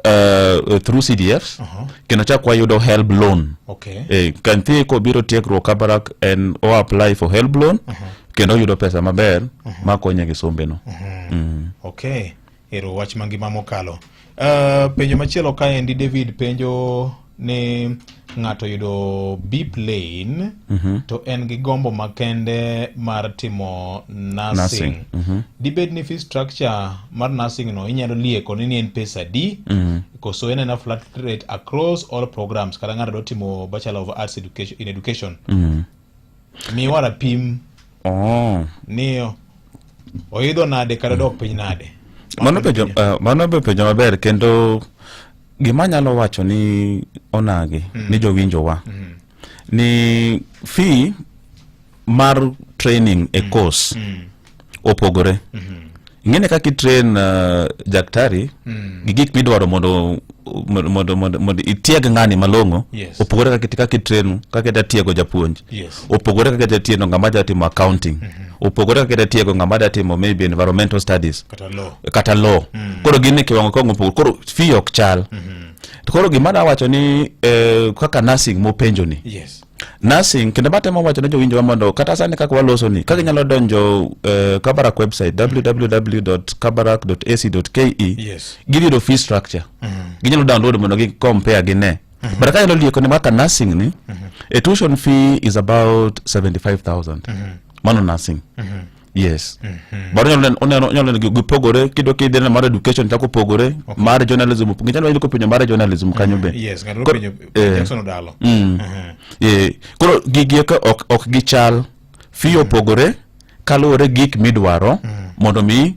uh, through CDFs uh -huh. kendo chak wayudo help loan okay. eh, kantie kobiro tiegruok Kabarak en o apply for help loan uh -huh. kendo oyudo pesa maber uh -huh. makonye gi sombeno uh -huh. mm. okay. Ero wach mangima mokalo uh, penjo machielo kaendi David penjo ni ng'ato yudo bip lane mm -hmm. to en gi gombo makende mar timo nursing, nursing. Mm -hmm. dibed ni fee structure mar nursing no inyalo lieko ni en pesa di mm -hmm. koso en ena flat rate across all programs kata ng'ato do timo bachelor of arts education, in education mm -hmm. Miwa rapim Oh. ni oidho nade kata dok piny nade. Mano penjo uh, mano be penjo maber kendo gima nyalo wacho ni onagi mm. ni jowinjowa mm. ni fee mar training e mm. course mm. opogore mm -hmm. ing'ene kaka itrain uh, daktari mm. gi gik midwaro mondo mondo mondo mondo itieg ng'ani malong'o yes. opogore kaka kaka itrain kaka ida tiego japuonj yes. opogore kaka ida tiego ng'ama da timo accounting mm -hmm. opogore kaka ida tiego ng'ama da timo maybe environmental studies kata law kata law mm. koro gin e kiwango kong opogore koro fee ok chal mm -hmm. koro gima da wacho ni eh, kaka nursing mopenjo ni yes. nursing kendo batemo wacho ne jowinjowa mondo kata sani kaka waloso ni kaka inyalo donjo uh, kabarak website www.kabarak.ac.ke Yes. gidhi yudo fee structure ginyalo download mondo gi compare gi ne but kanyalo lieko ni kaka nursing ni a tuition fee is about 75000 mano nursing yes mhm. baro nyalo oneno nyalo neno gipogore kido kidhi na mar education chako pogore okay. mar journalism ngicha nyalo ko penyo mar journalism mhm. kanyo be yes ngalo penyo eh. Jackson Odalo mm. mhm. eh koro gigi ka ok ok gichal fiyo pogore kaluwore gik midwaro mondo mi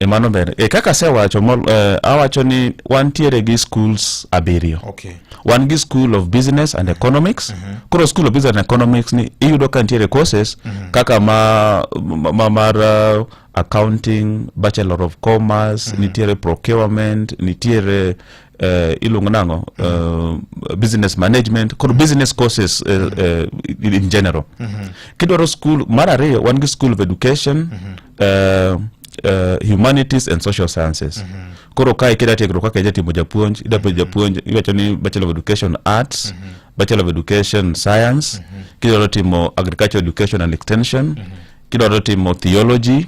E mano ber. E kaka asewacho mol- eh, awacho ni wantiere gi schools abiriyo. Okay. Wan gi school of business and economics. Koro school of business and economics ni iyudo ka nitiere courses kaka ma, ma, ma mar uh, accounting, bachelor of commerce, nitiere procurement, nitiere eh, iluongo nang'o eh, business management koro business courses eh, eh, in in general kidwaro school mar ariyo wan gi school of education uh, uh, humanities and social sciences koro kae kida tiegruok kaka ija timo japuonj ida penjo japuonj iwacho ni bachelor of education arts bachelor of education science kidwaro timo agriculture education and extension kidwaro timo theology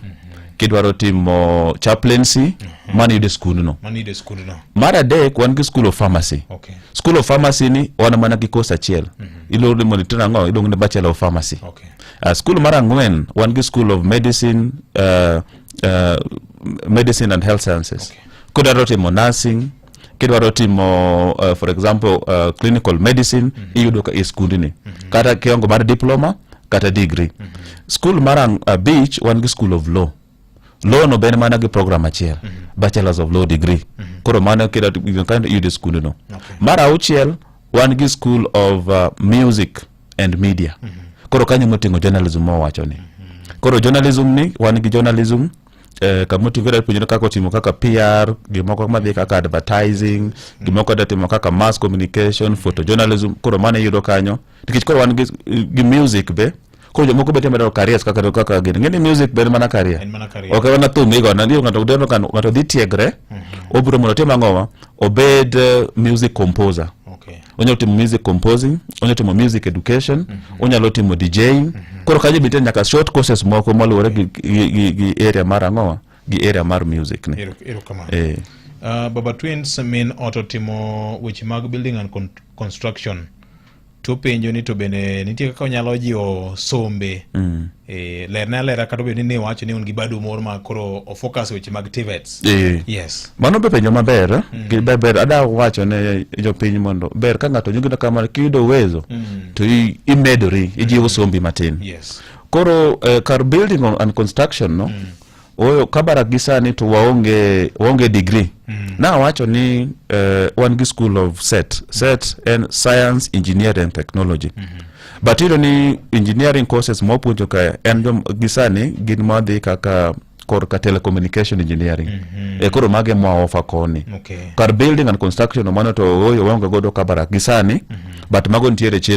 kidwaro timo chaplaincy mano yude skundno Mano yudo e skundno. mar adek wan gi school of pharmacy Okay. school of pharmacy ni wan mana gi course achiel iluongo ni monitor ang'o iluongo ni bachelor of pharmacy Okay. Uh, skul mar ang'wen wan gi School of Medicine, uh, uh, Medicine and Health Sciences. Okay. Kudwaro timo nursing, kidwaro timo uh, for example uh, clinical medicine mm -hmm. iyudo ka e skundni mm -hmm. kata kiongo mar diploma kata degree mm -hmm. skul mar uh, beach wan gi school of law law no ben mana gi program achiel mm -hmm. bachelors of law degree mm -hmm. koro mano kida kind yude skund no okay. mar auchiel wan gi school of uh, music and media mm -hmm. koro kanyo moting'o journalism mowacho ni mm -hmm. koro journalism ni wan gi journalism eh, kamotigo da puonjore kaka otimo kaka pr gimoko madhi kaka advertising mm. gimoko da timo kaka mass communication photojournalism koro mano iyudo kanyo nikech koro wan gi, gi music be koro jomoko be temo daro careers kaka kaka gini ngeni music be en mana career En mana career. ok en mana thum igo na ndio ngato deno kan ngato dhi tiegre obiro mondo otim ang'owa obed eh, music composer Okay. onyalo timo music composing onyalo timo music education onyalo timo djing koro kanyo be nitie nyaka short courses moko maluwore gi, gi, gi, gi area mar ang'owa gi area mar music ni erokamano eh. Uh, baba twins min oto timo weche mag building and con construction topenjo ni to bende nitie kaka onyalo jiwo sombe mm. e, lerne alera kata obedo ni ne wacho ni un gi bado moro ma koro ofocus weche mag tivets e. Eh. yes mano be penjo maber eh? mm. gi ber ada wacho ne jopiny mondo ber ka ng'ato nyugido kamano kiyudo uwezo mm. to imedori ijiwo mm. sombi matin yes Koro eh, kar building on, and construction no mm. oyo Kabarak gi sani to waonge waonge degree mm. na awacho ni eh, wan gi school of set set en science engineering and technology mm -hmm. but iyudo ni engineering courses ma wapuonjo ka en jom gi sani gin madhi kaka korka telecommunication engineering mm -hmm. e koro mage mwa ofa koni okay. kar building and construction mano to oyo waonge godo Kabarak gi sani mm -hmm. but mago nitiere chenro